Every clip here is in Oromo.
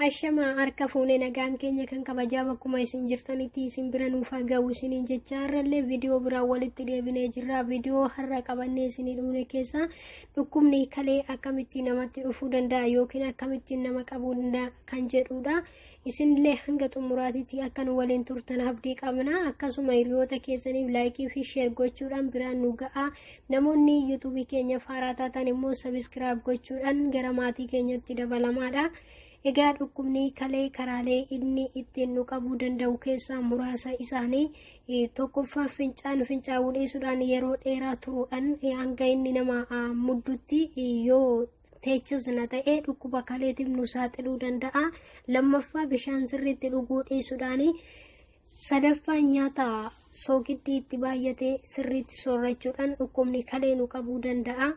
Ashama harka fuunee nagaan keenya kan kabajaa bakkuma isin jirtanitti isin bira nuuf haa ga'u isiniin jecha har'allee viidiyoo biraa walitti deebinee jirra viidiyoo har'a qabannee isinii dhufne keessaa dhukkubni kalee akkamitti namatti dhufuu danda'a yookiin akkamittiin nama qabuu danda'a kan jedhudha Isinillee hanga xumuraatitti akka nu waliin turtan abdii qabna. Akkasuma hiriyoota keessaniif laayikii fi sheer gochuudhaan biraan nu ga'a. Namoonni yuutuubii keenyaaf haaraa taatan immoo sabiskiraayib gochuudhaan gara maatii keenyatti dabalamaadha. Egaa dhukkubni kalee karaalee inni ittiin nu qabuu danda'u keessaa muraasa isaanii eh, tokkoffaa fincaan fincaa'uu dhiisuudhaan yeroo dheeraa turuudhaan eh, hanga inni nama ah, muddutti eh, yoo teechis na ta'ee dhukkuba kaleetiif nu saaxiluu danda'a. Lammaffaa bishaan sirriitti dhuguu dhiisuudhaan sadaffaan nyaata soogiddi itti baay'ate sirriitti soorachuudhaan dhukkubni kalee nu qabuu danda'a.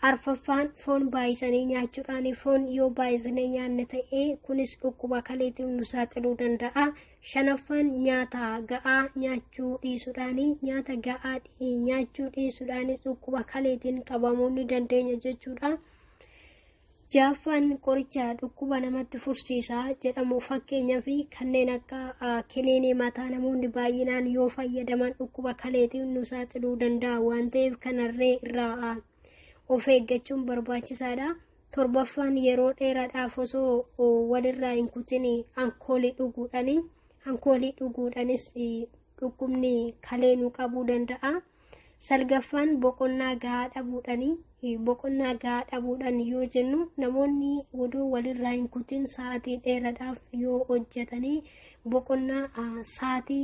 Arfaffaan foon baay'isanii nyaachuudhaan foon yoo baay'isnee nyaanne ta'ee kunis dhukkuba kaleetiif nu saaxiluu danda'a. Shanaffaan nyaata ga'aa nyaachuu dhiisuudhaani. Nyaata ga'aa nyaachuu dhiisuudhaanis dhukkuba kaleetiin qabamuu ni dandeenya jechuudha. Jaaffaan qoricha dhukkuba namatti fursiisa jedhamu fakkeenyaa fi kanneen akka kiniinii mataa namoonni baay'inaan yoo fayyadaman dhukkuba kaleetiin nu saaxiluu danda'a waan ta'eef kanarree irraa of eeggachuun barbaachisaadha. Torbaffaan yeroo dheeraadhaaf osoo walirraa hin kutin alkoolii dhuguudhaani. Alkoolii dhuguudhaanis dhukkubni kalee nu qabuu danda'a. Salgaffaan boqonnaa gahaa dhabuudhaani. Boqonnaa gahaa dhabuudhaan yoo jennu namoonni odoo walirraa hin kutin sa'aatii dheeraadhaaf yoo hojjetanii boqonnaa sa'aatii